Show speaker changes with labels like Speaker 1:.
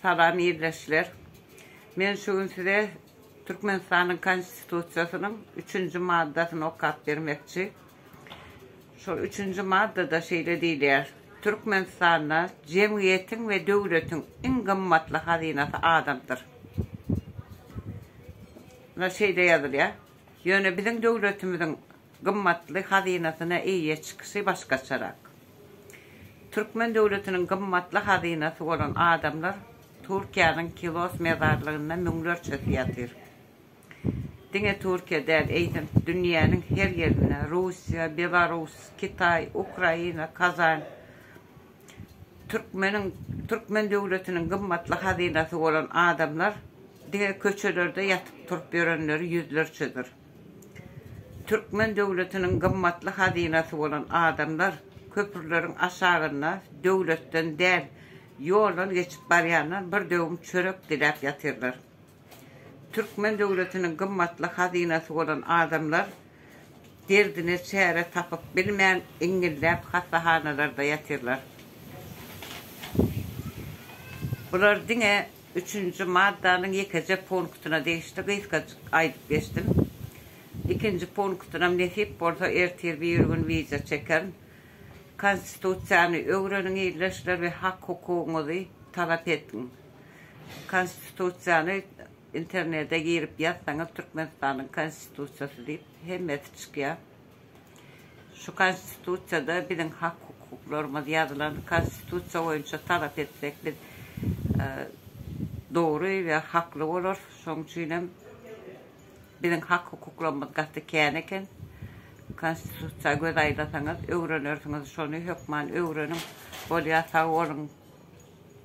Speaker 1: Salam ildeşler. Men şu gün size Türkmenistanyň Konstitusiýasynyň üçünji maddasyny okap bermekçi. Şol üçünji maddada şeýle diýilýär, Türkmenistanda jemgyýetiň we döwletiň iň gymmatly hazynasy adamdyr. Muna şeýle ýazylýar. Ýöne biziň döwletimiziň gymmatly hazynasyna eýe çykyşy başgaçarak. Türkmen döwletiniň gymmatly hazynasy bolan adamlar Türkiýäniň Kilos mezarlygynda müňlerçesi ýatyr. Diňe Türkiýe däl, eýsem, dünýäniň her ýerinde, Russiýa, Belarus, Kitaý, Ukraina, Kazan, türkmeniň, türkmen döwletiniň gymmatly hazynasy bolan adamlar diňe köçelerde ýatyp-turup ýörenleri ýüzlerçedir. Türkmen döwletiniň gymmatly hazynasy bolan adamlar köprüleriň aşagynda döwletden däl, ýoldan geçip barýandan bir döwüm çörek diläp ýatyrlar. Türkmen döwletiniň gymmatly hazynasy bolan adamlar derdine çäre tapyp bilmän, iňňilläp hassahanalarda ýatyrlar. Bular diňe Üçünji maddanyň ýekeje punktyna degişli gysgajyk aýdyp geçdim. Ikinji punktynam nesip bolsa ertir bir gün wideo çekerin. Konstitusiýany öwreniň ildeşler we hak-hukugyňyzy talap etgiň. Konstitusiýany internede girip ýazsaňyz Türkmenistanyň konstitusiýasy diýip hemmesi çykýar. Şu konstitusiýada biziň hak hukuklarymyz ýazylan konstitusiýa boýunça talap etsek biz dogry we hakly bolarys şoň üçinem biziň hak hukuklarymyz gaty kän eken konstitusiýa göz aýlasaňyz öwrenersiňiz şony hökman öwreniň bolýa sag boluň.